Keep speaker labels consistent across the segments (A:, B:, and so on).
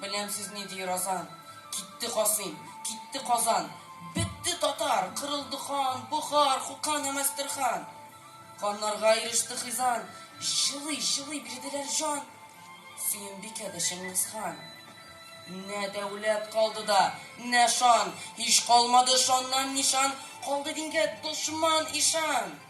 A: Беләм сез ни ди Разан. Китте Касыйм, китте Казан. Бетте татар, кырылды хан, Бохар, Хуқан һәм Әстерхан. Каннарга иреште хизан, Җылый, җылый бирделәр җан. Сөембикә дә Чыңгызхан. Нә дәүләт калды да, нә шан, Һич калмады шаннан нишан, Калды дингә дошман ишан.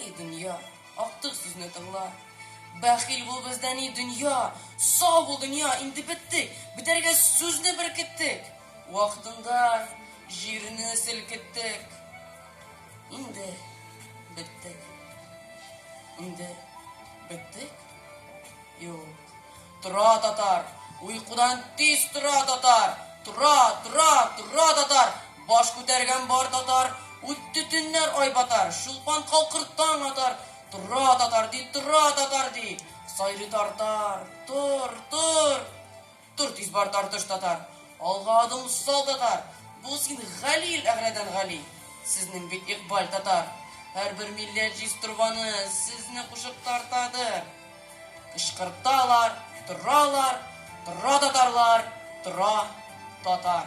A: Эй, дөнья, актык сүзне тыңла. Бәхил бул бездән, эй, дөнья, сау бул, дөнья, инде беттек, бетәргә сүзне беркеттек. Вакытында җирне селкеттек. Инде беттек. Инде беттек. Юк. Тора, татар! Уйкудан тиз тора, татар! Тора, тора, тора, татар! Баш күтәргән бар, татар! Үтте төннәр, ай батар, Чулпан калкыр таң атар. Тора, татар, ди, тора, татар, ди, Сайрый тартар, тор, тор! Тор тиз бар, тартыш татар, Алга адым сал, татар! Бу син Галил Әгърәдән гали, Сезнең бит икбаль татар! Һәрбер милләт җиз торбаны Сезне кушып тартадыр. Кычкырталар, торалар, Тора татарлар, тора татар.